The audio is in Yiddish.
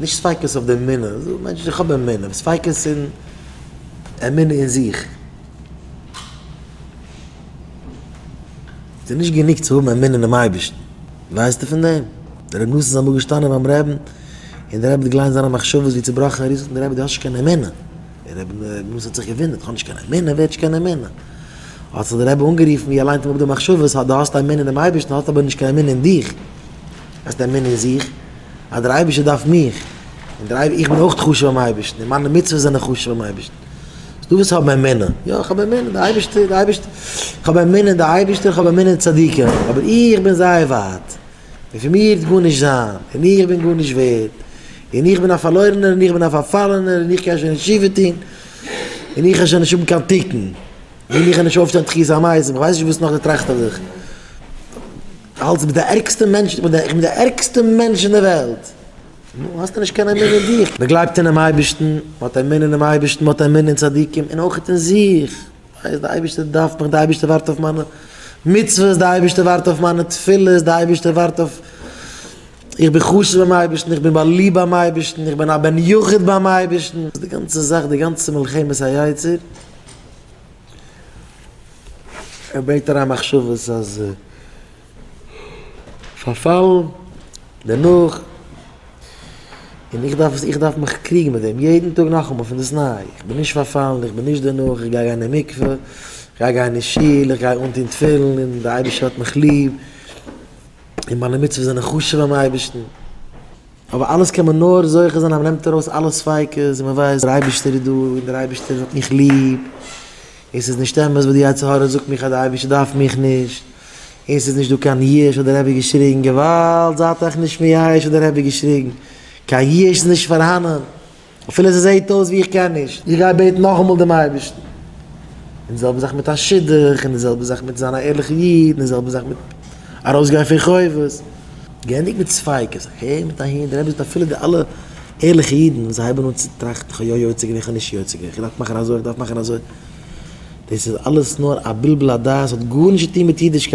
נישט ספיקות אויף די אמונה, זאגט מענטש איך האב אמונה, ספיקות אין אמונה אין זיך. ס'איז נישט גענוג צו האבן אמונה אינעם אייבערשטן, ווייסטו פון דעם? דער רבי נסים איז אמאל געשטאנען ביים רבין, און דער רבי האט געליינט זיינע מחשבות ווי צעבראכן ער איז, זאגט אים דער רבי דו האסט נישט קיין אמונה. דער רבי נסים האט זיך געוואונדערט, איך האב נישט קיין אמונה? ווער האט נישט קיין אמונה? האט זיך דער רבי אנגערופן ווי ער ליינט אים אפ די מחשבות, אז דו האסט אמונה אינעם אייבערשטן, האסט אבער נישט קיין אמונה אין דיך. אז די אמונה אין זיך, אז דער אייבערשטער דארף מיך, און דער אייבער, איך בין אויך חשוב ביים אייבערשטן, און מיינע מצוות זענען חשוב ביים אייבערשטן. אז דו ווילסט האבן אמונה, יא, איך האב אמונה, דער אייבערשטער, דער אייבערשטער, איך האב אמונה אין דער אייבערשטער, איך האב אמונה אין צדיקים, אבער איך בין זייער ווייט, און פון מיר וועט גארנישט זיין, און איך בין גארנישט ווערד, און איך בין א פארלוירענער, און איך בין א פארפאלענער, און איך קען שוין נישט תשובה טון, און איך העל שוין נישט האבן קיין תיקון, און איך העל נישט אויפשטיין תחיית המתים, איך ווייס נישט וואס נאך דו טראכסט אויף זיך. האלטסט דו ביסט די ערגסטע מענטש? איך בין די ערגסטע מענטש אין די וועלט? נו, האסטו נישט קיין אמונה אין דיך? מען גלייבט אינעם אייבערשטן, מען האט אמונה אינעם אייבערשטן, מען האט אמונה אין צדיקים, און אויך אין זיך. ווייס, די אייבערשטער דארף מיך, די אייבערשטער ווארט אויף מיינע מצוות, די אייבערשטער ווארט אויף מיינע תפילות, די אייבערשטער ווארט אויף, איך בין חשוב ביים אייבערשטן, איך בין באליבט ביים אייבערשטן, איך בין א בן יחיד ביים אייבערשטן. די גאנצע זאך, די גאנצע מלחמת היצר. ער ברענגט אריין מחשבות אז פארפאלן דערנאך און איך דארף איך דארף מיך קריגן מיט דעם יעדן טאג נאכאמאל פון דאס ניי, איך בין נישט פארפאלן, איך בין נישט דערנאך, איך גיי גיין אין מקווה, איך גיי גיין אין שול, איך גיי אנטון תפילין און דער אייבערשטער האט מיך ליב. און מיינע מצוות זענען חשוב ביים אייבערשטן, אבער אלעס קען מען נאר זוכה זיין אז מען נעמט ארויס אלע ספיקות און מען ווייסט דער אייבערשטער איז דא און דער אייבערשטער האט מיך ליב, און ס'איז נישט אמת וואס די יצר הרע זאגט מיך אז דער אייבערשטער דארף מיך נישט, און ס'איז נישט דא קיין יש האט דער רבי געשריגן, געוואלד, זייט אייך נישט מייאש האט דער רבי געשריגן, קיין יש איז נישט פארהאנען. אפילו ס'זעהט אויס ווי איך קען נישט, איך גיי בעטן נאכאמאל דעם אייבערשטן. און די זעלבע זאך מיט א שידוך, און די זעלבע זאך מיט זיין א ערליכע איד, און די זעלבע זאך מיט ארויסגיין פון חובות. געענדיגט מיט ספיקות, איך הער מיט אהין, דער רבי זאגט אפילו די אלע ערליכע אידן וואס זיי הייבן אן צו טראכטן, איך האב יא יוצא געווען, איך האב נישט יוצא געווען, איך דארף מאכן אזוי, איך דארף מאכן אזוי, דאס איז אלעס נאר א בלבול הדעת, האט גארנישט צו טון מיט אידישקייט.